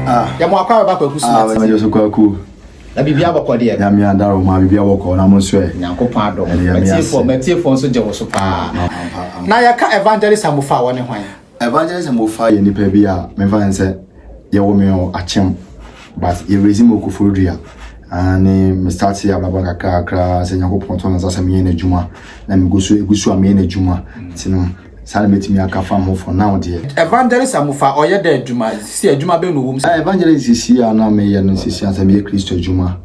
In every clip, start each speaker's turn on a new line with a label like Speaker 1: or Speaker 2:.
Speaker 1: Ah. yɛ mo akɔ abɛba kwaku soma ti ɛmɛjɔ so kwaku
Speaker 2: na biribi abɔkɔ
Speaker 1: deɛ nyame adaro ho a biribi
Speaker 2: abɔkɔ na mo nso ɛ nyankopɔn adɔ matiefoɔ
Speaker 1: matiefoɔ nso gye wo so paa na yɛka evangelist amofa a wɔne hwan Evangelist Mofa
Speaker 2: yɛ nipa bi a me fa no sɛ yɛwɔ me wɔ akyem but yɛ raise me wɔ Koforidua ah ne me start yɛ abrabɔ kakra kakra sɛ Nyankopɔn to me nsa sɛ meyɛ n'adwuma na megu so egu so a meyɛ n'adwuma nti no saa na mɛtumi aka fam ho for now deɛ. Evangelist Amofa
Speaker 1: ɔyɛ dɛ adwuma sisi adwuma bɛn na ɔwɔ mu sisi. Ah Evangelist sisi a
Speaker 2: na meyɛ no sisi a sɛ meyɛ Kristo adwuma.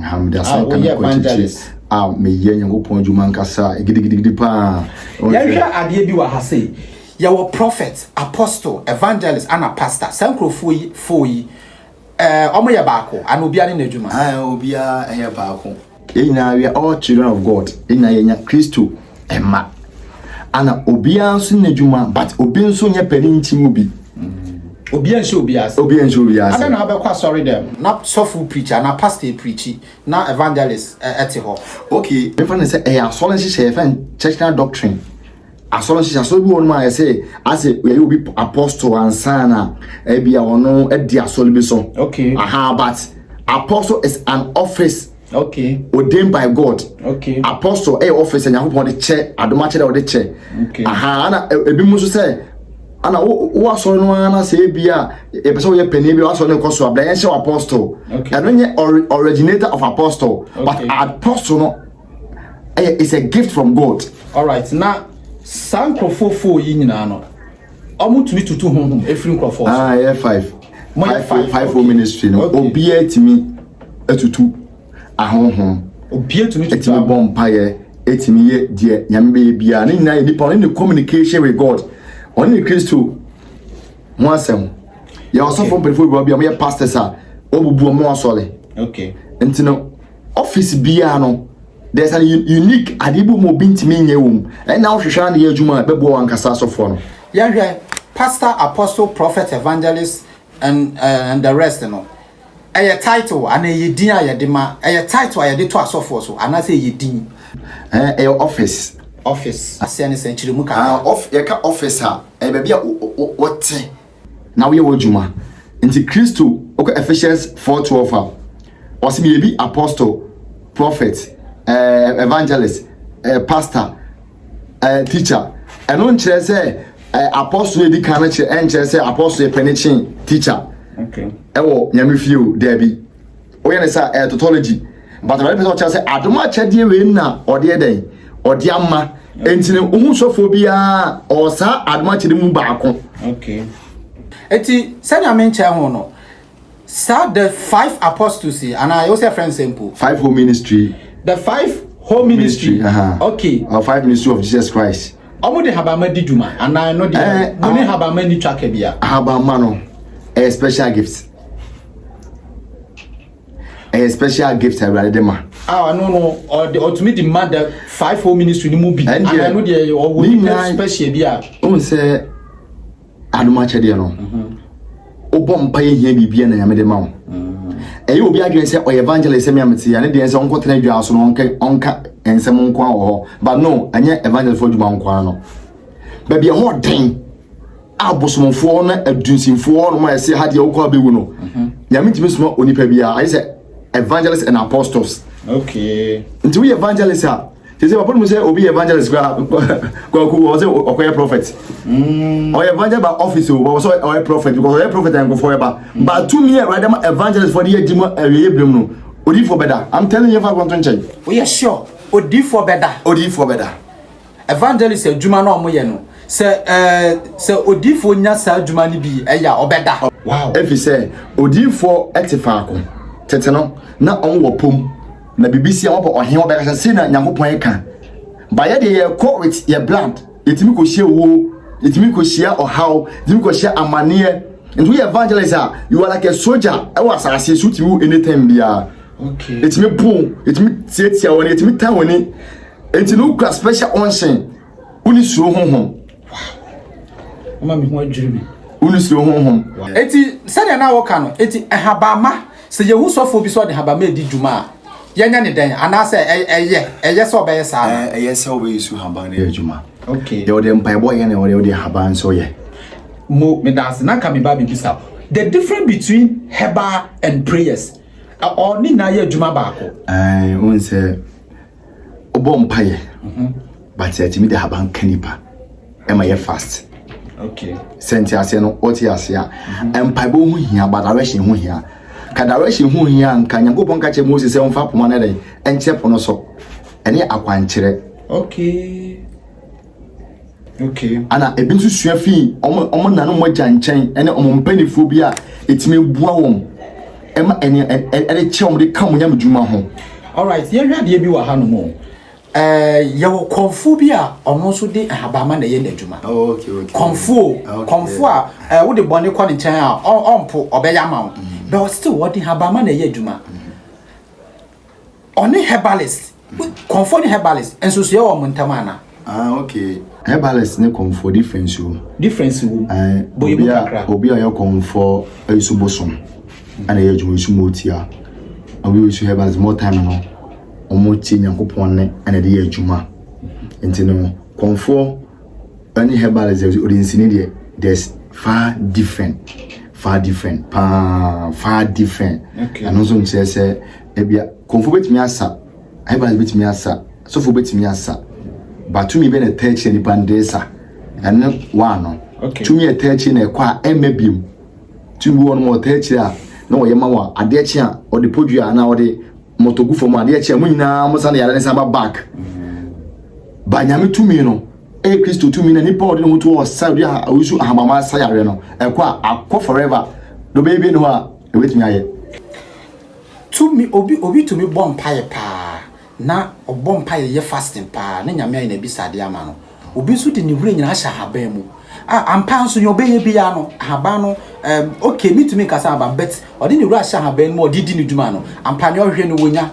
Speaker 2: ha mede asɛnka no kɔnkyekye a meyɛ nyankopɔn adwuma nkasa gidigidigidi paa yɛhwɛ adeɛ
Speaker 1: bi wɔ ha sei yɛwɔ prophet apostle evangelist ana pastor saa nkurɔfoɔ yi fo yi eh, ɔmo yɛ baako ana obiara ne n'adwuma obiara ɛyɛ
Speaker 2: baako yɛn nyinaa we are all children of god yɛn nyinaa yɛnya kristo mma ana obiara nso nyɛ adwuma but obi nso nyɛ panin nti mu bi obi anhyɛ
Speaker 1: obi ase obi anhyɛ obi ase ada na abɛkɔ asɔre dɛm na sɔfo preacher na pastor preachi na evangelist ɛte eh, hɔ okay mefa ne sɛ
Speaker 2: ɛyɛ eh, asɔre nhyehyɛ yɛfɛ churchna doctrine asɔre nhyehyɛ asɔre bi wɔ nom a yɛsɛ asɛ yɛyɛ obi apostle ansana ɛbi a ɔno adi asɔre bi so okay aha but apostle is an office Okay. Ordained by God. Okay. Apostle ɛyɛ office Nyankopɔn de kyɛ adomakyerɛ ɔde kyɛ. Okay. Aha ana e, ebi mu nso sɛ ana wo wo asɔre no ara na sɛ ebi a yɛpɛ sɛ woyɛ panyin bi a wasɔre no kɔ so a bla yɛn hyɛ apostle. Okay. Ɛno nyɛ ori originator of apostle. Okay. But apostle no ɛyɛ is a gift from God. All right. Na
Speaker 1: saa nkurɔfoɔ fo yi nyinaa no. Ɔmo tumi tutu honhom efiri nkorɔfoɔ so. Ah, ɛyɛ five.
Speaker 2: Mo yɛ five. Five o ministry no. Obiara tumi atutu ahonhom. Obiara tumi tutu.
Speaker 1: Etumi bɔ mpaeɛ,
Speaker 2: etumi yɛ deɛ nyame bɛyɛ biara. Ne nyinaa yɛ nipa ɔne ne communication with God. Ɔne ne Kristo ho asɛm. Yɛ ɔsɔfo mpanyinfoɔ bi wɔ bi a wɔyɛ pastors a wɔbubu wɔn asɔre. Okay. Nti no office biara no. There's an unique adeɛ bi mu obi ntumi nyɛ wɔ mu ɛna wohwehwɛ ara na yɛ adwuma a ɛbɛboa wɔn ankasa asɔfoɔ no. Yɛhwɛ
Speaker 1: Pastor, Apostle, Prophet, Evangelist and uh, and the rest no ɛyɛ title anaa ɛyɛ din a yɛde ma ɛyɛ title a yɛde to asɔfoɔ so anaasɛ ɛyɛ din. Ɛɛ ɛyɛ
Speaker 2: office. Office
Speaker 1: aseɛ ne sɛ nkyerɛmu kakra. Ah, off, yɛka office a
Speaker 2: ɛyɛ baabi a wɔte Na woyɛ w'adwuma. Nti Kristo, wokɔ Ephesians four twelve a, ɔse meyɛ bi apostle, prophet, eh, evangelist, eh, pastor, eh, teacher. Ɛno nkyerɛ sɛ eh, apostle yɛ di kan no kyerɛ, ɛnkyerɛ sɛ apostle yɛ pɛne kyen teacher. Okay. Ɛwɔ nyame fie o, daabi. Woyɛ ne saa ɛyɛ tautology. But Awurade pɛ sɛ ɔkyerɛ sɛ adom akyɛdeɛ wei na ɔde yɛ dɛn? Ɔde ama. Enti no wohu sɔfoɔ biara ɔwɔ saa adom akyɛdeɛ mu baako. Okay.
Speaker 1: Eti sɛnea menkyɛ ho no saa the five apostles yi anaa yɛwɔ sɛ ɛfrɛ nsɛm po. Five whole ministry.
Speaker 2: The five
Speaker 1: whole ministry. ministry. Uh -huh. Okay. Or five
Speaker 2: ministry of Jesus Christ. Ɔmo de habama di
Speaker 1: dwuma anaa ɛno deɛ mo ne habama ni twaka bia. Habama no
Speaker 2: ɛyɛ special gift. ɛyɛ special gift awurade de ma. a ɔno no
Speaker 1: ɔde ɔtumi de ma the five four ministry no mu bi ana no deɛ ɔwɔ nipa special bi a. ohun sɛ
Speaker 2: adum akyɛdeɛ no wobɔ mpa yɛ hia biribi a na nyame de ma wo ɛyɛ obi adwene sɛ ɔyɛ evangelist sɛmea mete ɛne deɛ sɛ ɔnkɔtena adwaa so no ɔnka nsɛm nko a wɔ hɔ but no ɛnyɛ evangelistfoɔ adwuma nko a no baabi ɛhɔ ɔden abosomfoɔ na adunsinfoɔ nom a ɛsɛ ha deɛ wokɔ abɛwu no nyame ntumi soma onipa biara ayɛ sɛ evangelist and apostles okay nti woyɛ evangelist a sese papa no mu sɛ obi yɛ evangelist kora kwaku wɔ sɛ ɔkɔyɛ prophet mm. ɔyɛ evangelist ba office o wɔ sɛ ɔyɛ prophet because ɔyɛ prophet a nkɔfoɔ ɛba mm. ba tumi a awurade ma evangelist fɔ de yɛ di mu awieɛ binom no odiifoɔ bɛda i'm telling you fa kɔnto nkyɛn woyɛ sure
Speaker 1: odiifoɔ bɛda odiifoɔ bɛda Evangelist adwuma na ɔmo yɛ no sɛ ɛɛ sɛ odiifoɔ nya saa adwuma no bi ɛyɛ a ɔbɛda. Wow efi sɛ
Speaker 2: odiifoɔ ɛte faako tete no na ɔmo wɔ pom na bibi si a wɔbɔ ɔhen ɔbɛka sɛ sei na Nyankopɔn ɛka ba yɛ deɛ yɛ kɔ with yɛ blood yɛtumi kɔ hyia wuo yɛtumi kɔ hyia ɔhaw yɛtumi kɔ hyia amaneɛ nti woyɛ evangelist a you are like a soldier ɛwɔ asase so tumi wo anytime biara yɛtumi po yɛtumi tiatia wɔn yɛtumi tan wɔn ni. Eti no kura special unction. Woni suro honhom.
Speaker 1: Ama me ho adwiri me. Woni suro honhom.
Speaker 2: Eti sɛdeɛ
Speaker 1: na wɔka no, eti ɛhabama sɛ yehu sɔfoɔ bi sɛ ɔde habama edi dwuma a, yɛnyɛ ne dɛn? Anaasɛ ɛyɛ ɛyɛ sɛ ɔbɛyɛ saa no? Ɛyɛ sɛ ɔbɛyɛ su
Speaker 2: haban no yɛ adwuma. Okay. Deɛ ɔde mpaebɔ
Speaker 1: yɛ na
Speaker 2: ɔde
Speaker 1: ɔde
Speaker 2: haban
Speaker 1: nso
Speaker 2: yɛ. Mo medanse
Speaker 1: na
Speaker 2: nka me
Speaker 1: ba
Speaker 2: bebisa o. The
Speaker 1: difference between herbal and prayers, ɔɔ ne nyinaa yɛ adwuma baako? Ɛɛ, wohu sɛ.
Speaker 2: wobɔ mpaeɛ mhm. but ɛtumi de haban ka nipa ɛma yɛ fast
Speaker 1: sɛ nti aseɛ no
Speaker 2: wote aseɛ a mhm. mpaebɔ ho hia ba direction ho hia ka direction ho hia nka nyankopɔn ka kyerɛ mose sɛ womfa poma no dɛn ɛnkyerɛ po no so ɛne akwankyerɛ okay. ana ebi nso sua fii wɔn nana wɔn agya nkyɛn ne wɔn mpanimfoɔ bi a ɛtumi bua wɔn ɛma ɛne ɛde kyɛ wɔn de ka wɔn nyame dwuma ho. alright yɛhwɛ
Speaker 1: adeɛ bi wɔ ha nom o ɛɛ yɛwɔ kɔnfo bi a ɔno nso de ahabama na ɛyɛ n'adwuma oh, kɔnfo
Speaker 2: ah, kɔnfo
Speaker 1: a ɛɛ wode bɔne kɔ ne nkyɛn a ɔmpo ɔbɛyɛ ama wo mm. bɛwɔ still wɔde ahabama na ɛyɛ adwuma. Mm. Ɔne herbalist. Kɔmfoɔ ne herbalist nso so yɛ wɔn ntam ana? Ah, okay.
Speaker 2: Herbalist ne kɔmfoɔ difference wom. Difference wom. Bɔ emu kakra. Obi a yɛ kɔmfoɔ ayi so bosom ɛna yɛ adwuma nso mo tia. Obi nso herbalist more time no wɔn tie Nyankopɔn ne ɛna de yɛ adwuma. Nti no kɔmfoɔ Ɛne herbalist deɛ ɔde nsini deɛ there's far different far different paa far different ɛno nso nkyerɛ sɛ ebia kɔnfo betumi asa herbalist betumi asa sɔfo betumi asa batumi bɛ na ɛtɛ akyire nipa ndeɛ sa ɛne waa no tumi ɛtɛ
Speaker 1: akyire na ɛkɔ
Speaker 2: a ɛmɛ biem tumi wɔn mo ɛtɛ akyire a na wɔyɛ ma wɔn adeɛ kye a ɔde podua anaa ɔde Moto gu fam adeɛ kyɛ mo nyinaa mo sa ne yare ne san ba back. Ba nyame tumi no ɛyɛ Kristo tumi na nipa ɔde ne ho to wɔ sa odi aha ɔyusu ahamama sa yare no ɛkɔ a akɔ forever do bɛyɛ bi ne hɔ a ɛbɛtumi ayɛ.
Speaker 1: Tumi obi obi tumi bɔ mpaeɛ paa na ɔbɔ mpaeɛ yɛ fasting paa ne nyame ayɛ n'abisadeɛ ama no Obi nso de ne wura nyinaa ahyɛ ahaban mu. A ampa nso nea ɔbɛyɛ biara no ahaban no um, okay metumi nkasa ahaban but ɔde ne wura ahyɛ ahaban mu ɔde di ne dwuma no ampa nea ɔhwɛ no wɔnya.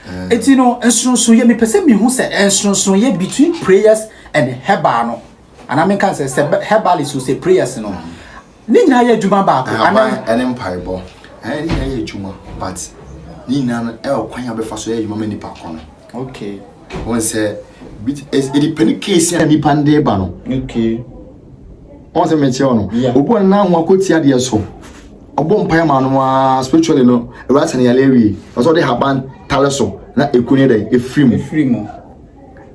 Speaker 1: Mm. Eti no nsonso yɛ mepɛ sɛ mehu sɛ nsonso yɛ between prayers and herbal no. Anaa menka sɛ sɛ herbalist o sɛ prayers no. Mm. Ne nyinaa yɛ adwuma baako. Ahaban ɛne mpaebɔ
Speaker 2: ɛne ne nyinaa yɛ adwuma but ne nyinaa no ɛwɔ kwan a bɛfa so yɛ adwuma ma nipa kɔ no. Okay.
Speaker 1: Wɔn sɛ
Speaker 2: bi ɛdi pɛ ne case a nipa no de ba no. Okay.
Speaker 1: Wɔn
Speaker 2: sɛ mɛkyerɛ wɔn no. Obi wɔn nan ho akɔti adeɛ so. Ɔbɔ mpae ma no aa spiritually no ɛwura sɛ ne yare awie. Ɔsɛ ɔde haban tare so na ekunu yɛ dɛ efiri mu. Efiri mu.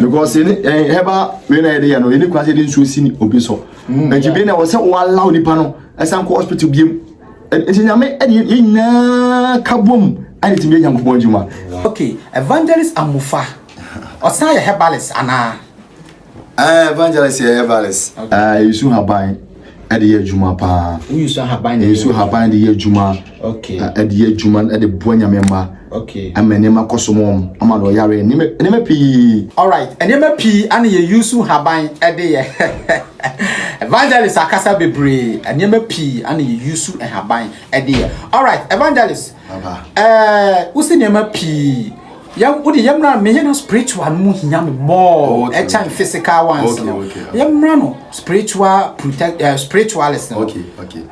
Speaker 2: because yɛne yɛn herbal wei na yɛde yɛ no yɛne kura sɛ yɛde nsuo si ne obi so mm, nti bɛn na ɛwɔ sɛ wɔalaw nipa no ɛsan kɔ hospital biem nti nyame ɛde yɛn nyinaa ka bom ɛde tumi yɛ nyankopɔn adwuma ok evangelist
Speaker 1: amufa ɔsan yɛ herbalist anaa eh,
Speaker 2: evangelist yɛ herbalist ah, yɛsu haban ɛde yɛ adwuma paa nsu ahaban nsu
Speaker 1: ahaban de yɛ adwuma
Speaker 2: ɛde yɛ
Speaker 1: adwuma
Speaker 2: ɛde boa nyame mma ɛma nneɛma
Speaker 1: kɔ so mɔm
Speaker 2: ama na ɔyare nneɛma pii alright nneɛma
Speaker 1: pii ana yɛ yusu haban ɛde yɛ evangelist akasa bebree nneɛma pii ana yɛ yusu haban ɛde yɛ alright evangelist ɛɛ
Speaker 2: wosi
Speaker 1: nneɛma pii Yɛ wo de yɛ mmra me yɛ na spiritual no mu hia me more oh, okay, ɛkyɛn okay. physical ones okay, no okay, okay. yɛ mmra no spiritual protect uh, spiritualist no okay okay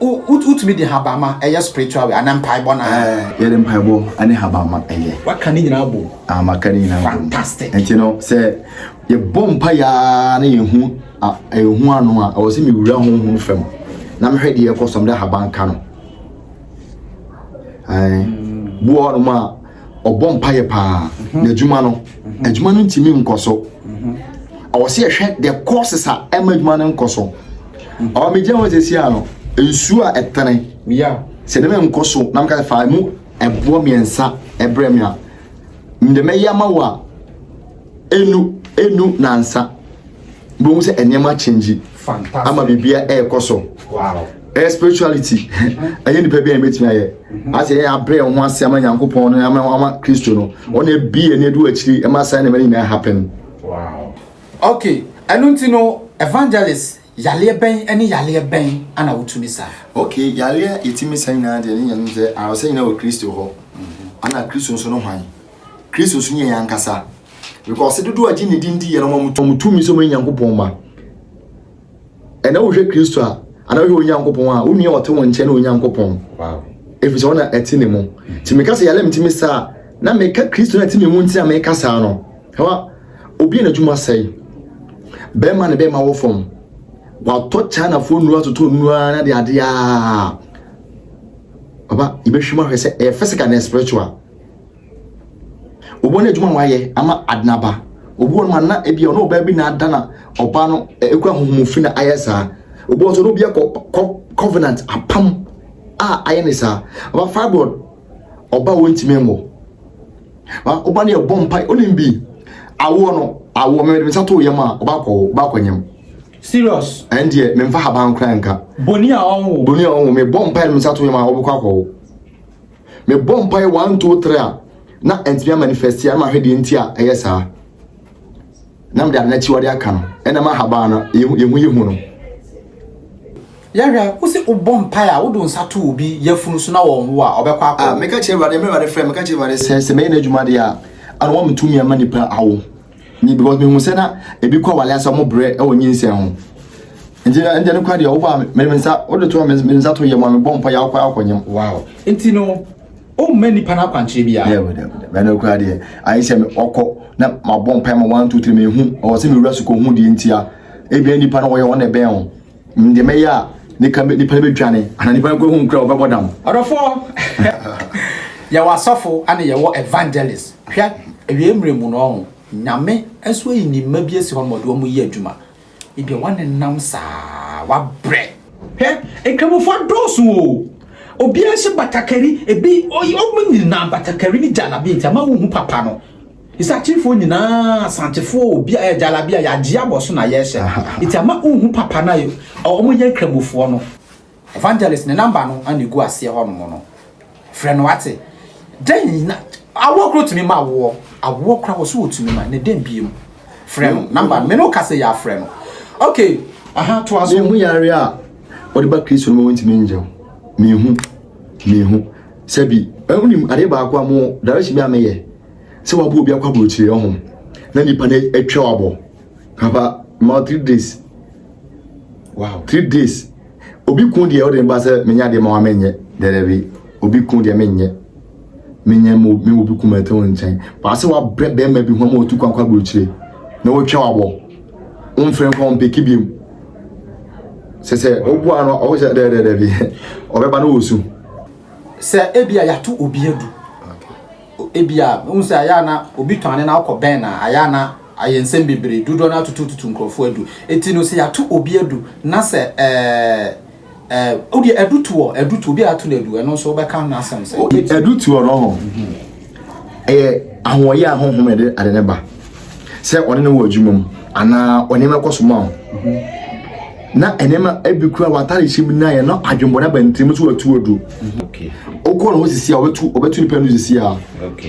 Speaker 1: wotumi de habama ɛyɛ spiritual way anaa mpaebɔ na eh, yɛ de mpaebɔ
Speaker 2: ɛne habama ɛyɛ waka ne nyinaa bom
Speaker 1: ah maka ne nyinaa bom
Speaker 2: fantastic ɛnti no
Speaker 1: sɛ
Speaker 2: yɛ bɔ mpa yaa na yɛ hu ɛhu ano a ɛwɔ sɛ mi wura ho ho fam na mehwɛ deɛ ɛkɔ sɔm dɛ haban ka no bi wɔ hɔnom a ɔbɔ mpaeɛ paa mhm. n'adwuma no mhm. adwuma no ntumi nkɔ so mhm. ɔwɔ sɛ yɛhwɛ the courses a ɛma adwuma no nkɔ so ɔwɔ megya hɔ sɛ sia no nsuo a ɛtene sɛ ne menkɔ so na meka fa mu ɛboɔ mmiɛnsa ɛbrɛ me a mede mɛyɛ ama wo a Ɛnu ɛnu nansa bɛhu sɛ nneɛma change ama biribi
Speaker 1: a ɛrekɔ
Speaker 2: so ɛyɛ
Speaker 1: spirituality
Speaker 2: ɛyɛ nipa bi a yɛbɛtumi ayɛ mm-hmm. asɛ yɛn abrɛ ho ase ama nyankopɔn no ama ama kristo no ɔne ɛbi ɛne ɛdu akyiri ɛma saa nneɛma no nyinaa happen
Speaker 1: okay
Speaker 2: ɛno
Speaker 1: nti no evangelist yaleɛ bɛn ɛne yaleɛ bɛn ana wotumi sa okay yaleɛ
Speaker 2: yɛtumi sa nyinaa deɛ ne nyɛ no sɛ awɔsɛ nyinaa wɔ kristo hɔ mm-hmm. ana kristo nso no hwan Kristo so yɛ yɛn ankasa. Because dodoɔ a gye ne din di yɛ no wɔn wɔn tumi sɛ wɔn Nyankopɔn ma. Ɛna wohwɛ Kristo a, ana wohwɛ Onyankopɔn a, wo nua ɔte wɔn nkyɛn ne Onyankopɔn. Wow. Efi
Speaker 1: sɛ ɔna ɛte
Speaker 2: ne mu. Ti meka sɛ yɛalɛ mtumi saa na meka Kristo na ɛte me mu nti na meka saa no. Hawa, obi a n'adwuma sɛe. Bɛrima ne bɛrima wɔ fam. Watɔ Chinafoɔ nnuro atotɔ nnuro ara na de adeɛ a. Papa, yɛbɛhwɛ mu ahwɛ sɛ ɛyɛ physical na spiritual. Obuo no adwuma a wayɛ ama Adena ba. Obuo no ma na ebi ɔno ɔbaa bi na ada na ɔbaa no ekura huhumu fi na ayɛ saa. Obuo nso no bi akɔ kɔ covenant apam a ayɛ ne saa. Ɔba fibroid ɔba wɔn ntumi nwɔ. Ɔba no yɛ bɔ mpa onim bi awoɔ no awoɔ mɛmɛ de nsa to yam a ɔba akɔ ɔba akɔ nyam. Serious.
Speaker 1: Ɛn deɛ mɛmfa
Speaker 2: haban kura nka. Boni a ɔnwo.
Speaker 1: Boni a ɔnwo mɛ bɔ mpa de nsa to
Speaker 2: yam a ɔbɛkɔ akɔ. mebɔ mpae one two three a na ɛntumi amanifɛsti a na mahwɛ deɛ nti a ɛyɛ saa na mede ade no akyiwade aka no ɛnam ahabaa no yɛhu yɛ hu no yɛhwɛ
Speaker 1: wo sɛ wobɔ mpae a wode nsa to obi yafunu so na wɔnwo a ɔbɛkɔ akɔ ah, meka kyerɛ awurade mmerɛ awurade frɛ
Speaker 2: meka kyerɛ awurade sɛ sɛ mɛyɛ no adwuma deɛ a ana wɔmetumi ama nipa awo Nyi because mehu sɛ na ebi kɔ awale asa mo brɛ ɛwɔ nyinsɛn ho. Nti na ɛnjɛ no kwa deɛ wobɔ a mede me nsa wode to a mede me nsa to yɛ mu a mebɔ mpa yɛ akɔ akɔ nyam. Wow. Nti no
Speaker 1: o mma nipa no akwankyerɛ biara. Dɛ wɔ dɛ wɔ dɛ. Mɛ no kura
Speaker 2: deɛ ayɛ sɛ me ɔkɔ na mabɔ mpa ma one two three mehu ɔwɔ sɛ mewura sukɔ hu deɛ ntia. Ebien nipa no wɔyɛ wɔn na ɛbɛn ho. Ndeɛ mɛyɛ a nika nipa no bɛdwane ana nipa no kura hu nkura wɔbɛbɔ dam. Ɔdɔfoɔ
Speaker 1: yɛwɔ asɔfo ana yɛwɔ evangelist hwɛ awie mmerɛ mu no ɔho nyame nso ayi ne mma bi asi hɔ no mɔde ɔmo yɛ adwuma ebia wanenam saa wabrɛ. Hwɛ nkramofo adɔɔso o obiara hyɛ batakari ebi ɔmo nyinaa batakari ne gyalabi nti ama wo hu papa no. Isakyifoɔ nyinaa Asantefoɔ a obi ayɛ gyalabia yɛagye abɔ so na yɛrehyɛ no nti ama wonhu papa no a wɔyɛ nkramofoɔ no Evangelist ne number no na ɛgu aseɛ hɔ nom no frɛ no wate dɛn na awoɔ kora ɔtumi ma awoɔ awoɔ kora wɔ so ɔtumi ma na dɛn biem frɛ no number me ne woka sɛ yɛafrɛ no ok aha toa so mehu yare a
Speaker 2: wɔde ba kristo no ma wɔntumi ngyɛw mehu mehu sɛ bi ɛwonim adeɛ baako a mo direction bi a meyɛ sɛ wabɔ obi akɔ aburokyire ho na nipa no atwa wabɔ papa ma three days wow three days obi kun deɛ ɔde ne ba sɛ menya deɛ ma wa menyɛ dɛdɛbi obi kun deɛ menyɛ menyɛ mo me obi kun mɛtɛ wɔn nkyɛn baasa wabrɛ bɛrima bi ho ama otu kwan kɔ aburokyire na wɔtwa wabɔ wɔmfrɛ nkɔ wɔn peke bi mu sɛ sɛ ɔbu ano ɔwɔ sɛ dɛdɛdɛbi ɔbɛba no wɔ su. sɛ
Speaker 1: ebi a yɛato obi adu Ebia wohu sɛ ayɛ a na obi tɔn ade na wokɔbɛn no a, ayɛ a na ayɛ nsɛm bebree, dodoɔ no ara tutututu nkurɔfoɔ adu. Enti no, sɛ yɛato obi adu na sɛ ɛɛ ɛɛ wo deɛ adu to hɔ, adu to, obi a ato no adu, ɛno nso wobɛka ho asɛm sɛ. Adu to hɔ no,
Speaker 2: ɛyɛ ahoɔyɛ a honhom na ɛde ade no ba. sɛ ɔne no wɔ adwuma mu anaa ɔnneɛma kɔ so ma wo na nneɛma ebi kura w'atare hyɛ mu na yɛ na adwembɔ na bɛntɛm so watu adu wokɔ ne ho sisi a wɔbɛtu wɔbɛtu nipa no sisi a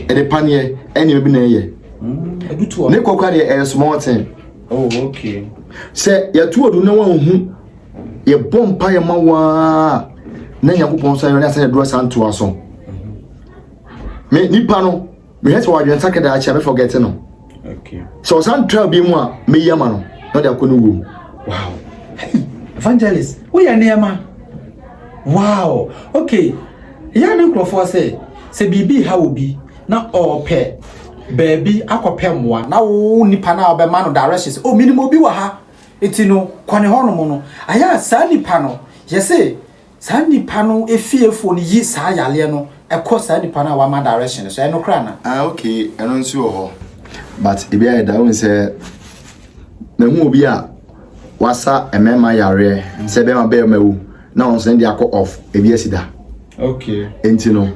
Speaker 2: ɛde paneɛ ɛnneɛma bi na ɛyɛ mm, ne kɔkora deɛ ɛyɛ small ten oh,
Speaker 1: sɛ yɛtu
Speaker 2: adu na wɔahu yɛbɔ mpa yɛ ma waa na nyankopɔn nsa yɛ ne asɛ yɛdorɔ sa ntoa so me nipa no mehwɛ sɛ ɔadwene sake daa kyɛ a mɛfɔgɛte no sɛ ɔsan tra bi mu a mɛyi ama no na ɔde akɔ ne wuo mu wow
Speaker 1: evangelist woyɛ nneɛma wow okay yɛ ne nkurɔfoɔ sɛ sɛ biribi ha wɔ bi na ɔɔpɛ baabi akɔpɛ mmoa na wo nipa no a ɔbɛma no direction sɛ o oh, menim obi wɔ ha nti no kɔ ne hɔnom no ayɛ a saa nipa no yɛse Saa nipa no efiefoɔ no yi saa yareɛ no kɔ saa nipa no a wama direction no so, ɛno koraa na. Ah okay ɛno nso wɔ
Speaker 2: hɔ but ebi ayɛ da wohu sɛ mahu obi a wasa mmarima yareɛ sɛ bɛrima bɛrima wu na wɔn nso ne de akɔ off ebi asi da Okay.
Speaker 1: nti no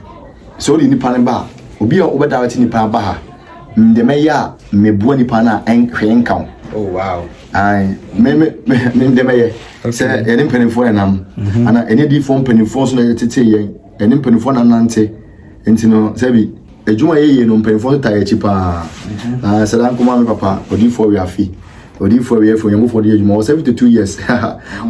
Speaker 2: sɛ wode nipa no ba a obi a wobɛdirect nipa aba ha mede mɛyɛ a mebua nipa no a ɛn- hwee nka wo Oh wow.
Speaker 1: ayi me
Speaker 2: me me me ndɛm ɛyɛ sɛ yɛne mpanimfoɔ yɛ nam mhm. ana ɛne diifoɔ mpanimfoɔ nso na yɛ tete yɛn ɛne mpanimfoɔ na nante nti no sɛbi adwuma yɛ yie no mpanimfoɔ nso ta yɛ akyi paa mhm. na sɛda nkoma mi papa odiifoɔ wi afi odiifoɔ wi afi onyankopɔn de yɛ adwuma wɔ seventy two years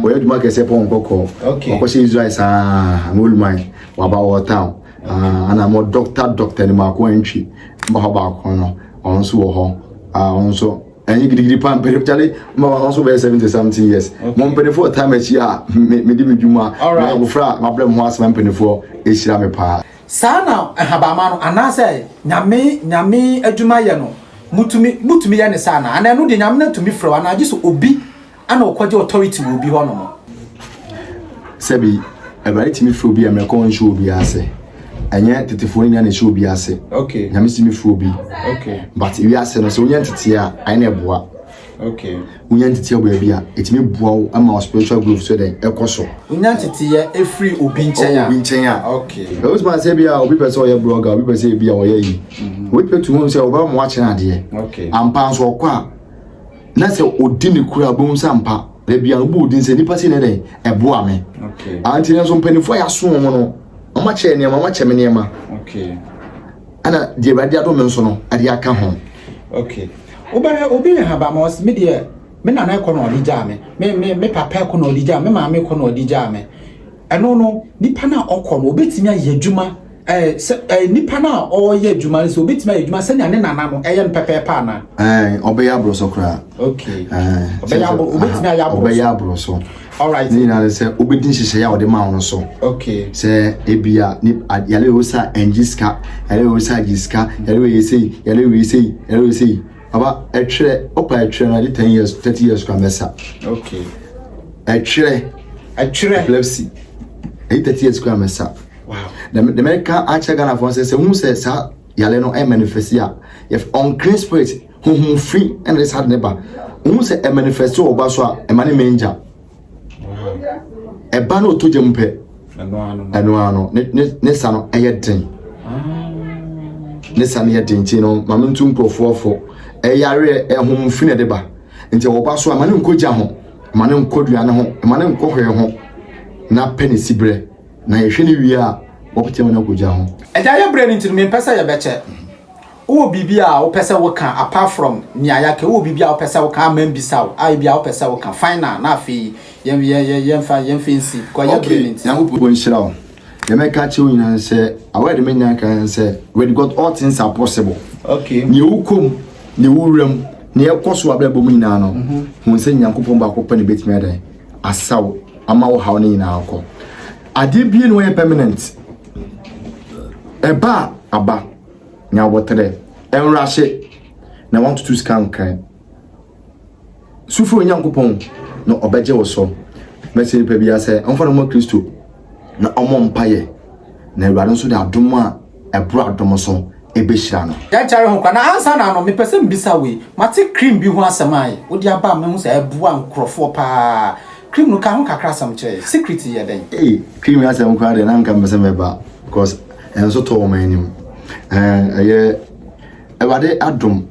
Speaker 2: wɔyɛ adwuma kɛseɛ pɔn nkɔkɔ ɔkɔhyɛ israel
Speaker 1: saa
Speaker 2: na oluman waba wɔ town ah, ana mo dɔkta dɔkta ni mako antwi mba hɔ baako no ɔno nso wɔ hɔ ah, ɔno nso. ɛnyɛ gidigidi pa mpere kyale ma wɔn nso bɛyɛ seventy something years mo mpanimfoɔ taa m'akyi a mede me dwuma na abofra a mabrɛ mo ho asɛm mpanimfoɔ ɛhyira me paa. saa na ahabamma
Speaker 1: no anaasɛ nyame nyame adwuma yɛ no motumi motumi yɛ ne saa anaa anaa ɛno deɛ nyame no atumi frɛ wo anaa gye sɛ obi ɛna ɔkɔgye authority wɔ obi hɔnom.
Speaker 2: sɛbi awurade tumi firi obi a mmerɛkɔ nhyɛ obi ase ɛnyɛ tetefoɔ nyinaa na ɛhyɛ obi ase okay. nyame si me firi
Speaker 1: obi
Speaker 2: okay. but
Speaker 1: wiase no
Speaker 2: sɛ wonya nteteɛ a ɛne ɛboa okay.
Speaker 1: wonya nteteɛ wɔ
Speaker 2: baabi a ɛtumi boa wo ama wo spiritual growth so dɛn ɛkɔ so wonya nteteɛ
Speaker 1: ɛfiri obi nkyɛn a obi nkyɛn a okay. ɛwosoma sɛ bi a
Speaker 2: obi pɛ sɛ ɔyɛ blogger obi pɛ sɛ bi a ɔyɛ yi mm-hmm. wobɛtumi hu sɛ wobɛma wakyerɛ adeɛ okay. ampa nso ɔkɔ
Speaker 1: a
Speaker 2: na sɛ ɔdi ne kura wobɛhu sɛ ampa da bia wobɔ odin sɛ nipa sei na ɛdɛn ɛboa me anti nanso
Speaker 1: mpanimfoɔ a
Speaker 2: yɛaso wɔn no wɔn akyɛ nneɛma wɔn akyɛ me nneɛma
Speaker 1: ɛna
Speaker 2: deɛ awurade adom me nso no ɛde aka ho okay
Speaker 1: wobɛhwɛ obi yɛ haba ma ɔsi me deɛ me nana ɛkɔ na ɔde gyaa me me me me papa ɛkɔ na ɔde gyaa me maame ɛkɔ na ɔde gyaa me Ɛno no, nipa no a ɔkɔ no, obetumi ayɛ adwuma ɛɛ sɛ ɛɛ nipa no a ɔreyɛ adwuma no sɛ obetumi ayɛ adwuma sɛnea ne nana no ɛyɛ no pɛpɛɛpɛ anaa? Ɛɛ, ɔbɛyɛ aborɔsɔ
Speaker 2: koraa. Okay. Ɛɛ,
Speaker 1: ɔbɛyɛ aboro obetumi ayɛ aborɔsɔ. Ɔbɛyɛ aborɔsɔ.
Speaker 2: Alright. Ne nyinaa
Speaker 1: ne sɛ obedi
Speaker 2: nhyehyɛe a ɔde maa wɔn so. Okay. Sɛ
Speaker 1: ebi a
Speaker 2: ne yale osa ɛngye sika, yale osa gye sika, yale oye sei, yale oye sei, yale oye sei. Aba ɛtwerɛ ɔpa ɛtwerɛ na ɛde ten years thirty years kura mɛsa. Okay.
Speaker 1: Ɛtwerɛ.
Speaker 2: Ɛtwerɛ. Epilepsy ɛde thirty years kura mɛsa. Wow. Na
Speaker 1: na mɛka
Speaker 2: akyerɛ Ghana fo sɛ sɛ hu sɛ saa yale no ɛyɛ manifest a yɛ unclean spirit huhum fi ɛna de saa de ne ba. Hu sɛ ɛmanifest wɔ ɔba so a ɛma ne mɛngya. ɛba no ɔtɔ gya mu pɛ ɛno ara no ne sa no ɛyɛ den ne sa no yɛ den nti no maame ntu nkurɔfoɔ fo ɛyareɛ ɛhom fi na ɛde ba nti wɔba so a ma ne nkɔ gya ho ma ne nkɔ duane ho ma ne nkɔ hwee ho na pɛ ne si berɛ na yɛhwɛ ne wie a wɔpɛtɛ mu no akɔ gya ho ɛgya yɛ berɛ no nti no
Speaker 1: mempɛ sɛ yɛbɛkyɛ Wowɔ biribi a wopɛ sɛ woka apart from nea yɛaka yi? Wowɔ biribi a wopɛ sɛ woka a mambisa wo a ebia wopɛ sɛ woka? Final na afei yɛn yɛn yɛn yɛmfa yɛmfa nsi because yɛn bere no nti. Nyankopɔn nhyira wo.
Speaker 2: Deɛ mɛka akyerɛ wo nyinaa ne sɛ, aware de manya nka ne sɛ, with God all things are possible. Okay. Nea ɛwɔ
Speaker 1: kɔm,
Speaker 2: nea ɛwɔ wura mu, nea ɛkɔ so wɔ abrabɔ mu nyinaa no, hu sɛ Nyankopɔn baako pɛ na ɛbɛtumi ayɛ dɛn? Asa wo, ama wo haw no nyinaa akɔ. Adeɛ bie na wɔyɛ permanent. Ɛba a, aba. Nya aboterɛ, nwrahye, na wantutu sika nkran. Su frɛ Onyankopɔn na ɔbɛgye wo so. Mɛsrɛ nnipa biara sɛ ɔmfa ne ho ma Kristo na ɔmmɔ mpaeɛ na Awurade nso de adom a ɛboro adom so bɛhyira no. Yɛnkyɛre ho koraa na ansa
Speaker 1: na ano mepɛ sɛ mebisa wei. Mate cream bi ho asɛm a wode aba a mahu sɛ ɛboa nkurɔfoɔ pa ara. Cream no ka ho kakra asɛm kyerɛ yɛn. Secret yɛ dɛn? Ei, cream asɛm
Speaker 2: koraa deɛ na anka mepɛ sɛ mɛba coz Ɛnso tɔ wɔn anim. Ɛɛ ɛyɛ Awurade adom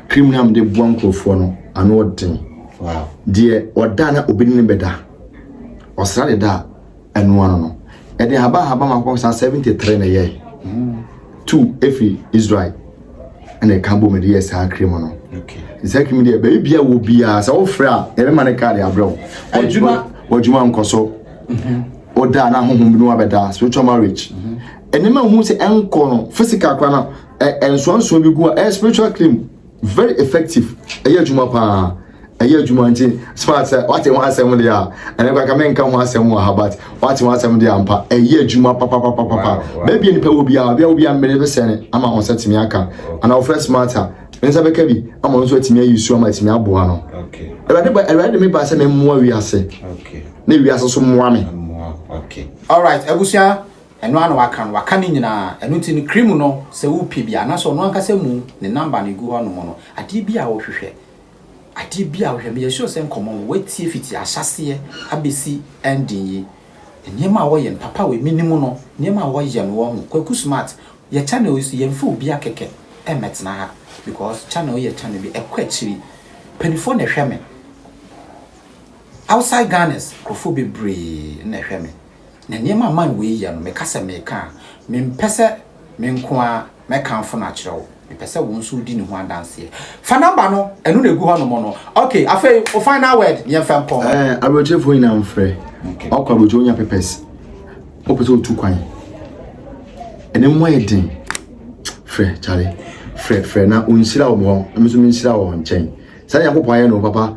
Speaker 2: kriminal mu de boa nkurɔfoɔ no ano ɔden. Deɛ
Speaker 1: ɔda
Speaker 2: na obi ne bɛda ɔsra de da ɛno ano no ɛde haba haba ma kɔ saa seventy three na ɛyɛ mm. two efi Israel. ɛna ɛka bɔ mu de yɛ saa kiri mu no saa kiri mu
Speaker 1: deɛ baabi
Speaker 2: bia wɔ biara sɛ wofrɛ a yɛbɛma ne kaade abrɛ wo w'adwuma nkɔ so woda mhm. na honhom bi no wabɛda spiritual marriage mhm. ɛnneɛma hu sɛ ɛnkɔ no physical kora no ɛnsoansoa bi gu a ɛyɛ spiritual cream very effective ɛyɛ adwuma paa ɛyɛ adwuma nti spa sɛ wate ho asɛm deɛ a ɛnɛ kora ka menka ho asɛm wɔ ha but wate ho asɛm deɛ ampa ɛyɛ adwuma papapapapa baabi nipa wɔ biara obi a obi a mmere bi sɛne ama ho sɛ tumi aka ana wɔfrɛ smart a ne nsa bɛka bi ama nso atumi ayi su ama atumi aboa no awurade ba
Speaker 1: awurade de me ba
Speaker 2: sɛ memmoa wiase na wiase
Speaker 1: so mmoa
Speaker 2: me
Speaker 1: alright abusua ɛno ano waka no waka ne nyinaa ɛno nti no kiri mu no sɛ wopɛ bi anaasɛ ɔno ankasa mu ne namba no gu hɔ nom no adeɛ bi a wohwehwɛ Adeɛ bi a wohwɛ, meyɛ sure sɛ nkɔmmɔ no woatie fiti ahyɛaseɛ abɛsi ending yi. Nneɛma a wɔyɛ no, papa wei menim no, nneɛma a wɔyɛ no wɔ ho. Kwaku Smart, yɛ channel yi so yɛmfa obia kɛkɛ mmɛtena ha because channel yi yɛ channel bi ɛkɔ akyiri. Mpanifoɔ na ɛhwɛ me, outside Ghanas nkorɔfoɔ bebree na ɛhwɛ me. Na nneɛma a man wei yɛ no meka sɛ meka a, mempɛ sɛ menko ara. Mɛkamfo no akyerɛ wo. Mepɛ sɛ wo nso wodi ne ho adanseɛ. Fa number no, ɛno na ɛgu hɔ nom no. Okay, afei wo final word ne yɛmfa nkɔ. Ɛɛ, eh, aburokyerefoɔ nyinaa
Speaker 2: mfrɛ. Okay. Ɔkɔ aburokye wonya pepɛs. Wopɛ sɛ wotu kwan. Ɛne mu ayɛ den. Frɛ, kyale. Frɛ, frɛ na ɔnhyira wo hɔ. Ɛmi nso menhyira wɔ nkyɛn. Sɛdeɛ Nyankopɔn ayɛ no, papa.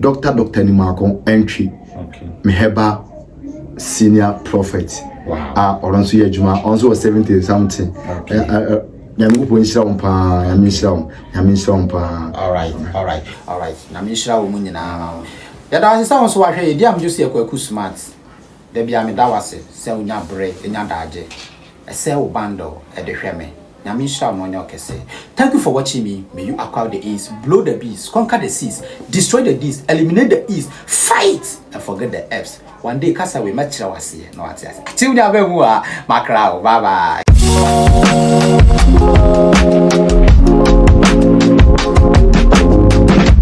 Speaker 2: Doctor Doctor ni mako ɛntwe me herbal senior prophet a ɔno nso yɛ adwuma ɔno nso wɔ seventy something nyame kɔpɔ nhyira wo paa nyame nhyira wo nyame nhyira wo paa alright alright alright
Speaker 1: nyame nhyira wo mu nyinaa yɛda ase sɛ wo nso wahwɛ yɛdi amdwo sɛ yɛkɔ aku smart Da biara meda wo ase sɛ wonya bere nya daagye ɛsɛ wo bundle de hwɛ me Nyame nhyira wo na ɔnyɛ wo kɛse Thank you for watching me May you acquire the ace Blow the bees Conquer the seas Destroy the dees Eliminate the ees Fight and forget the eps One day kasa wei mɛkyerɛ wo aseɛ na wate aseɛ Atew ne abɛn mu a makra wo Bye bye.